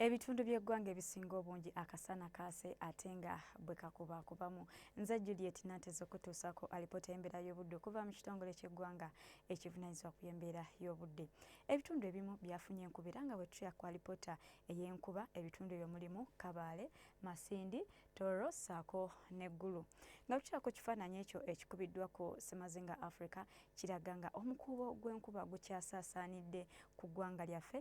Ebitundu by'eggwanga ebisinga obungi akasana kaase ate nga bwe kakubaakubamu. Nze Juliet Nanteza okutuusaako alipoota y'embeera y'obudde okuva mu kitongole ky'eggwanga ekivunanyizibwa ku y'embeera y'obudde. Ebitundu ebimu byafunye enkuba era nga bwe tuya ku alipoota ey'enkuba ebitundu ebyo mulimu Kabaale, Masindi, Toro ssaako ne Gulu. Nga bwe tuya ku kifaananyi ekyo ekikubiddwa ku Semazinga Africa kiraga nga omukuubo gw'enkuba gukyasaasaanidde ku ggwanga lyaffe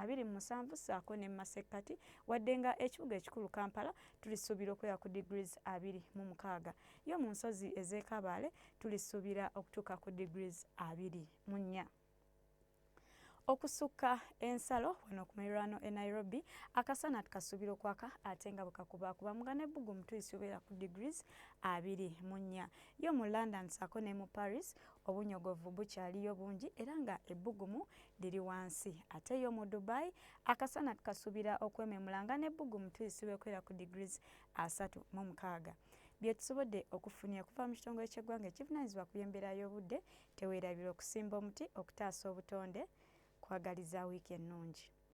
abiri mu musanvu ssaako ne mu masekkati wadde nga ekibuga ekikulu kampala tulisuubira okubeera ku degrees abiri mu mukaaga yo mu nsozi ez'ekabaale tulisuubira okutuuka ku degrees abiri mu nnya okusukka ensalo wano ku mirwano e nairobi akasana tukasuubira okwaka ate nga bwekakubakuba muga nebbugu omutuyisi obeera ku degrees abiri mu nnya yo mu london saako ne mu paris Obunyogovu bukyaliyo bungi era nga ebbugumu liri wansi ate yo mu Dubai akasana tukasubira okwememula nga n'ebbugumu tulisiba ekwera ku degrees asatu mu mukaaga. Byetusobodde okufunira kuva mu kitongole ky'eggwanga ekivunanyizibwa ku by'embeera y'obudde tewerabira okusimba omuti okutaasa obutonde. Kwagaliza wiiki ennungi.